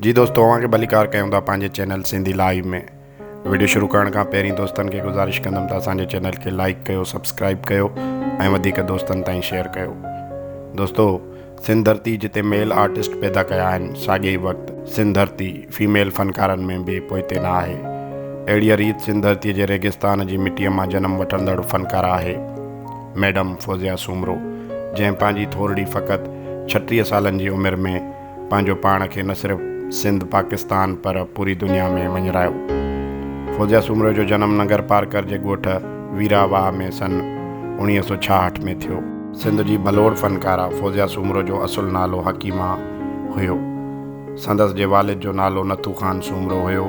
جي دوستو اوهان کي ڀليڪار ڪيون ٿا پنهنجي چينل سنڌي لائيو ۾ وڊيو شروع ڪرڻ کان پهرين دوستن کي گذارش ڪندم ته اسان جي چينل کي لائيڪ ڪيو سبسڪرائيب ڪيو ۽ وڌيڪ دوستن تائين شيئر ڪيو دوستو سنڌ ڌرتي جتي ميل آرٽسٽ پيدا ڪيا آهن ساڳي ئي وقت سنڌ ڌرتي فيميل فنڪارن ۾ به پوئتي نه آهي اهڙي ريت سنڌ ڌرتي جي ريگستان جي مٽي مان جنم وٺندڙ فنڪار آهي ميڊم فوزيا سومرو جنهن پنهنجي ٿورڙي فقط ڇٽيهه سالن جي عمر ۾ پنهنجو پاڻ کي نه صرف سنڌ پاڪستان پر پوري دنيا ۾ وڃرايو. فوزيه سومرو جو جنم ننگر پارڪر جي ڳوٺ ويرا واهه ۾ سن اوڻيهه سؤ ڇاهٺ ۾ ٿيو. سنڌ جي ڀلوڙ فنڪاره فوزيه سومرو جو اصل نالو حڪيمه هيو. سندس جي والد جو نالو نٿو خان سومرو هيو.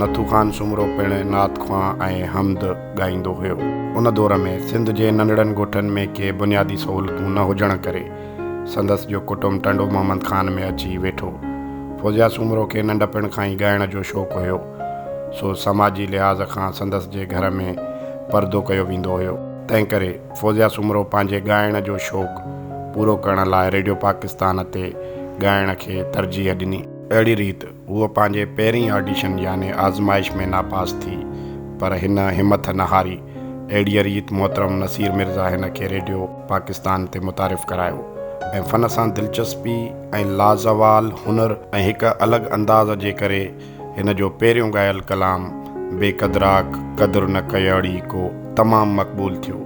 نٿو خان سومرو پڻ نعت خوان ۽ حمد ڳائيندو هيو. ان دور ۾ سنڌ جي ننڍڙن ڳوٺن ۾ ڪي بنيادي سهولتون نه هجڻ ڪري سندس جو ڪٽنب ٽنڊو محمد خان ۾ اچي ويٺو. فوزيا سومرو کي ننڍپڻ کان ئي ڳائڻ جو شوق هيو، سو سماجي لحاظ کان سندس جي گهر ۾ پردو ڪيو ويندو هيو. تنهن ڪري فوزيا سومرو پنهنجي ڳائڻ جو شوق پورو ڪرڻ لاء ريڊيو پاڪستان تي ڳائڻ کي ترجيح ڏني. اهڙي ريت هوء پنهنجي پهرين آڊيشن يعني آزمائش ۾ ناپاس ٿي پر هن همٿ نه هاري. اهڙيء ريت محترم نصير مرزا هن کي ريڊيو پاڪستان تي متعارف ڪرايو ۽ فن سان دلچسپي ۽ لازوال هنر ۽ هڪ الڳ انداز جي ڪري هن جو پهريون ڳايل ڪلام بي قدراک قدر نه ڪيئڙي ڪو تمام مقبول ٿيو.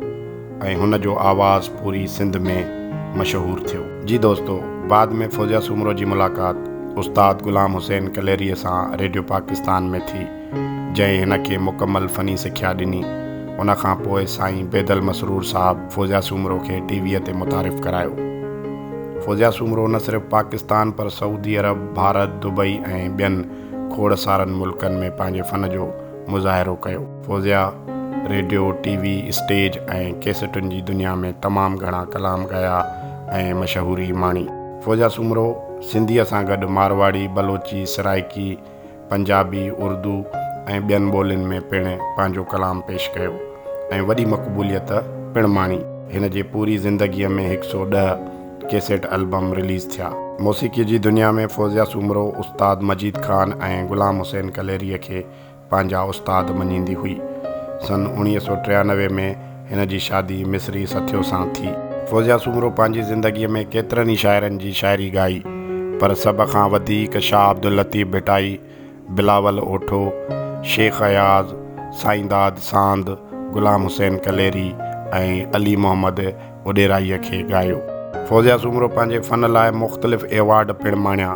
۽ هن جو آواز پوري سنڌ ۾ مشهور ٿيو. جي دوستو، بعد ۾ فوزيا سومرو جي ملاقات استاد غلام حسين ڪليريء سان ريڊيو پاڪستان ۾ ٿي، جنهن هن کي مڪمل فني سکيا ڏني. ان کان پوء سائين بيدل مسرور صاحب فوزيا سومرو کي ٽي ويء تي متعارف ڪرايو. فوزيا سومرو نه صرف پاڪستان پر سعودي عرب، ڀارت، دبئي ۽ ٻين کوڙ سارن ملڪن ۾ پنهنجي فن جو مظاهرو ڪيو. Fauzia radio, T V, stage ۽ ڪيسٽن جي دنيا ۾ تمام گهڻا ڪلام ڳايا ۽ مشهوري ماڻي. فوزيا سومرو سنڌيء سان گڏ مارواڙي، بلوچي، سرائيڪي، پنجابي، اردو ۽ ٻين ٻولين ۾ پڻ پنهنجو ڪلام پيش ڪيو ۽ وڏي مقبوليت پڻ ماڻي. هن جي پوري زندگيء ۾ هڪ سؤ ڏهه ڪيسٽ البم رليز ٿيا. موسيقيء جي دنيا ۾ فوزيا سومرو استاد مجيد خان ۽ غلام حسين ڪليريء کي پنهنجا استاد مڃيندي هئي. سن اوڻيهه سؤ ٽيانوي ۾ هن جي شادي مصري سٿيو سان ٿي. فوزيه سومرو پنهنجي زندگيء ۾ ڪيترن ئي شاعرن جي شاعري ڳائي، پر سڀ کان وڌيڪ شاهه عبداللطيف ڀٽائي، بلاول اوٺو، شيخ اياز، سائينداد ساند، غلام حسين ڪليري ۽ علي محمد وڏيرائيء کي ڳايو. فوزيه سومرو پنهنجي فن لاء مختلف ايوارڊ پڻ ماڻيا،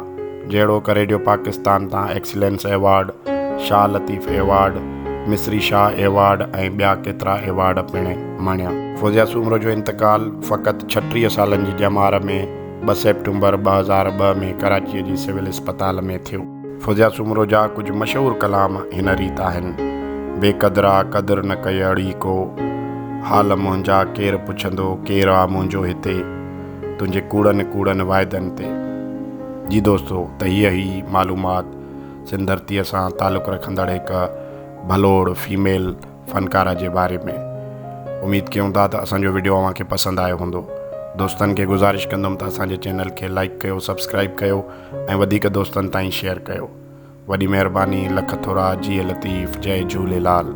جهڙوڪ ريڊيو پاڪستان تان excellence award, Shah Latif award, Misri Shah award ۽ ٻيا ڪيترا ايوارڊ پڻ ماڻيا. فوزيه سومرو جو انتقال فقط ڇٽيهه سالن جي ڄمار ۾ ٻه سيپٽمبر ٻه هزار ٻه ۾ ڪراچيء جي سول اسپتال ۾ ٿيو. فوزيا سومرو جا ڪجهه مشهور ڪلام هن ريت آهن، بي قدرا قدر نه ڪئي اڙي ڪو، حال منهنجا ڪير پڇندو ڪير آ منهنجو هتي، تنهنجي ڪوڙن ڪوڙن واعدن تي. جي دوستو ته هيء هئي معلومات سنڌ ڌرتيء سان تعلق رکندڙ هڪ ڀلوڙ فيميل فنڪاره جي باري ۾. اميد ڪيون ٿا ته اسان جو وڊيو اوهان کي پسند آيو هوندو. دوستن کي گذارش ڪندم ته اسان جي چينل کي لائيڪ ڪيو سبسڪرائيب ڪيو. ۽ وڌيڪ دوستن تائين شيئر ڪيو وڏي مهرباني لک ٿورا جيئي لطيف جئي جهوليلال.